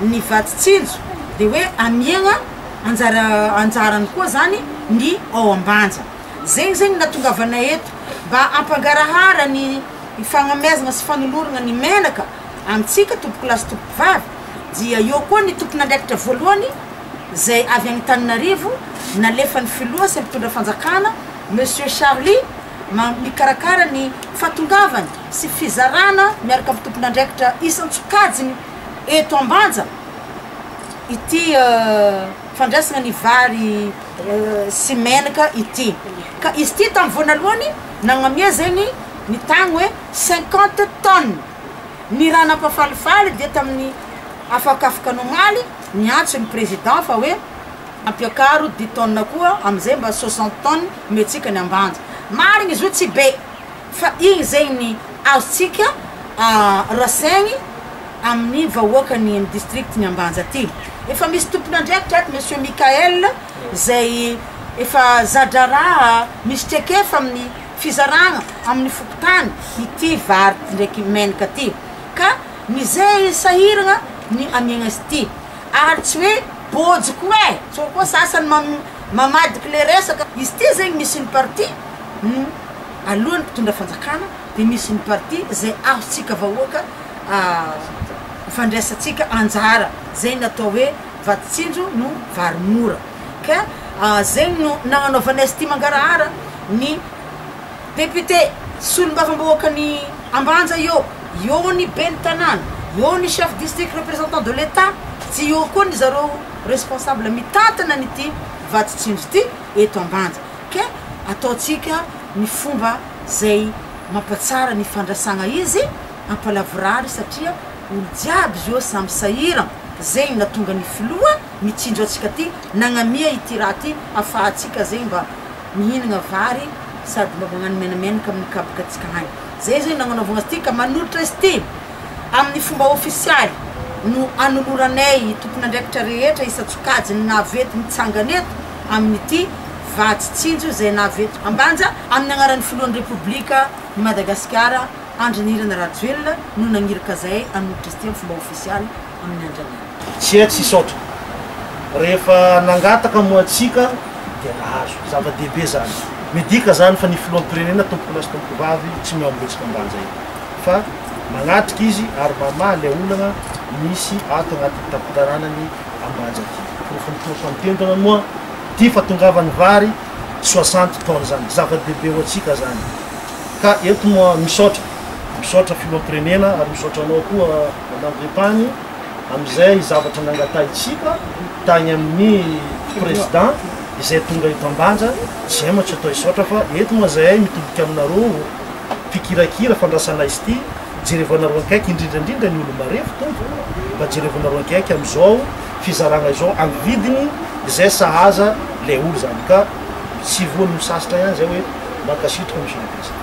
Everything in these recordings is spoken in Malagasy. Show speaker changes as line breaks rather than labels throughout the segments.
ny vatsy tsinjo de hoe amiagna anjara anjarany koa zany ny ao ambanja zegny zegny natongavanay eto mba ampangarahara ny fagnameazana sy fanolorana ny menaka amintsika tompokolahy sy tompokovavy dia eo koa ny tompon'andraikitra voalohany zay avy any Tananarivo nalefan'ny filoha sy mpitondra fanjakana monsieur Charly mikarakara ny fahatongavany sy fizarana miaraka amin'ny tompon'andraikitra isan-tsokajiny eto Ambanja ity fandraisana ny vary sy menaka ity ka izy ity tamin'ny voanalohany nagnamia zegny ny tagny hoe cinquante tonnes, ny raha nampafalifaly dia tamin'ny afakafoka nomaly niantso ny président fa hoe. Ampiakaro dix tonnes koa amizay mba soixante tonnes omentsika ny ambanja. Marigny izy io tsy be fa igny zegny ny azontsika rasaigny amin'ny vahoakan'ny amin'ny district ny ambanja ty. Efa misy tompon'andraikitra ato Monsieur Mickaël zay efa za-draharaha misy traikefa amin'ny fizaragna amin'ny fokontany ity vary ndraiky menaka ty ka mizey sahiragna ny amiagna azy ty. Ary tsy hoe bôjo koa eh! Sao koa sasany mamadika le resaka, izy ity zegny misy ny parti ny alohan'ny mpitondra fanjakana de misy ny parti zay azontsika vahoaka ifandraisantsika anjara zay natao hoe vato tsinjo no vary mora ka zegny no nagnanaovanay sty mangarahara ny Député, solombavambahoaka ny Ambanja eo, eo ny ben'ny tanàna, eo ny chef district représentant de l'Etat, tsy eo koa ny zareo responsable mitantana an'ity vaditsinjo ity eto Ambanja. Ka ataontsika ny fomba zay mampatsara ny fandrasagna izy ampalavorary satria olo jiaby izy eo samy sahiran zegny natonga ny filoha mitsinjo antsika ty nagnamia ity raha ty afahantsika zegny mba Mihinagna vary sady mba magnano menamenaka amin'ny kapoka tsika hany. Zay zao no nagnanaovagna azy ty ka manolotra azy ty amin'ny fomba ofisialy no anoloranay tompon'andraikitra rehetra isan-tsokajiny nahavety nitsangana eto amin'ity vatsy tsinjo izay nahavety ambanja amin'ny agnaran'ny filohan'ny Repoblika ny Madagasikara Andry Nirina Rajoelina no nagniraka zahay hanolotra azy ty amin'ny fomba ofisialy. amin'ny andranana. Tsia tsy hisaotra.
Rehefa nangataka moa antsika dia nahazo. Zava-dehibe izany. Midika izany fa ny filoham-pirenena tompokolahy sy tompokovavy tsy mihaongotsika am-banja eny. Fa manatrika izy ary mamaha ilay olana misy ato anatin'ny tampon-tanànany am-banja ity. Porofon'ny porofo anton-tendrona moa ity fa tongavan'ny vary soixante tonnes izany. Zava-dehibe ho antsika izany. Ka eto moa misaotra. Misaotra filoham-pirenena ary misaotra anao koa. Madame Vepany, amin'izay zavatra nangatahintsika tany amin'ny Président izay tonga eto Ambanja, tsy hay mantsy atao hisaotra fa eto moa izahay mitodika aminareo mpikirakira fandrasana azy ity, jerevanareo akaiky indrindra indrindra ny olo-marefo Tompoko, mba jerevanareo akaiky amin'izao fizarana izao amin'ny vidiny izay sahaza ilay olo izany ka tsy voan'ny misasitra ihany izay hoe mankasitraka Monsieur le Président.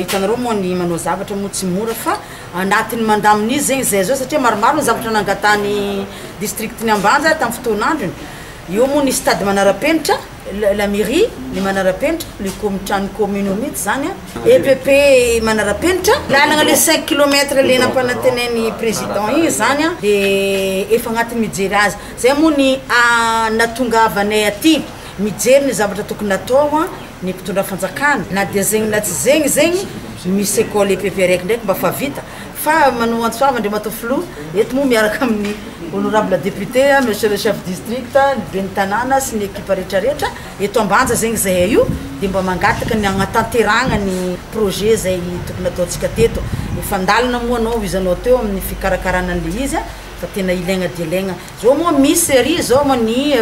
hitanareo moa ny manao zavatra moa tsy mora fa anatin'ny mandamin'izy zegny zay zao satria maromaro ny zavatra nangatahany district ny ambanja tamin'ny fotoan'androny eo moa ny stade manara-penitra la mairie ny manara-penitra le komitrano commune mihitsy zany a EPP manara-penitra lalagna le cinq kilomètre le nampanantenain'ny président igny zany a de efa agnatin'ny mijery azy zay moa ny nahatongavanay aty Mijery ny zavatra tokony atao ny mpitondra fanjakana na dia zegny na tsy zegny zegny misy ecole EPP raiky ndraiky mba fa vita fa Manou Antsoava Andriamatoa Filoha eto moa miaraka amin'ny honorable député monsieur le chef district ny ben'ny tanàna sy ny ekipa retraretra eto Ambanja zegny zahay io dia mba mangataka ny hagnatanterahagna ny projet zay tokony ataontsika teto efa andalana moa anao izy anao teo amin'ny fikarakarana an'ilay izy fa tena ilaigna dia ilaigna Zao moa misy serie zao moa ny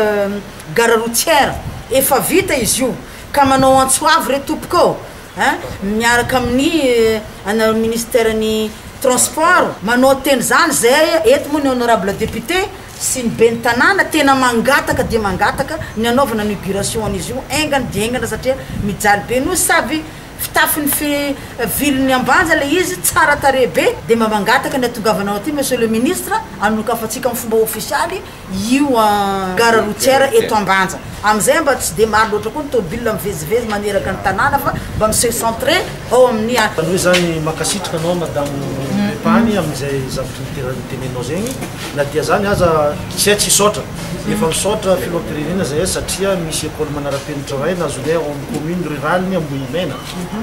gare routière efa vita izy io ka manao antso avo re tompoko ô hein miaraka amin'ny anareo ministère ny transport manao teny zany zay eto moa ny honorable député sy ny ben'ny tanàna tena mangataka dia mangataka ny anaovana inauguration an'izy io engany dia engana satria mijaly be noho sady Fitafiny fe vilony ambanja ilay izy, tsara tarehy be, dia mba mangataka ny hatongavanao aty Monsieur le Ministre, anokafantsika amin'ny fomba ofisialy io gare routière eto Ambanja. Amin'izay mba tsy dia maro loatra koa ny tomobilina mivezivezy maneraka ny tanàna fa mba mi-se centrer ao amin'ny. Zany hoe zany
mankasitraka anao Madame Repany amin'izay zavatra nitenenanao zegny, na dia zany aza tsy hay tsy hisaotra. Efa misaotra filoham-pirenena zahay satria misy école manarapenitra iray nazonay ao amin'ny commune rurale ny Ambohimena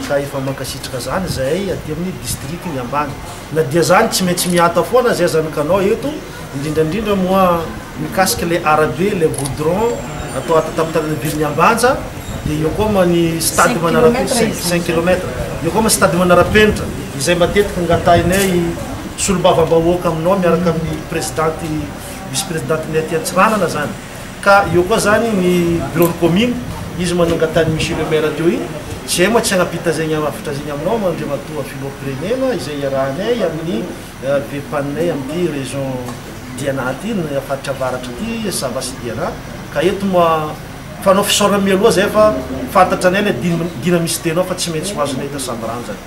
ka efa mankasitraka zany zahay aty amin'ny district ny Ambany. Na dia zany tsy maintsy mihata foana zahay zany kanao eto indrindra indrindra moa mikasika ilay arabe ilay goudron atao ato an-tampon-tanàna be ny Ambanja dia eo koa moa ny stade manarapenitra cinq kilomètre eo koa moa ny stade manarapenitra izay matetika angatahinay solombavambahoaka aminao miaraka amin'ny presidente vice presidente-ny aty Antsiranana zany ka eo koa zany ny bureau-ny commune izy manangatany monsieur le maire teo iny tsy hay moa tsy hanapita zegny hafatra zegny aminao moa Andriamatoa Filoham-pirenena izay iarahanay amin'ny VPAN-nay amin'ity région Diana aty ny faritra avaratra aty Sava sy Diana ka eto moa fanao fisaorana mialoha zay fa fantatra anay lay dina misy tenao fa tsy maintsy ho azonay eto Sambiranjana.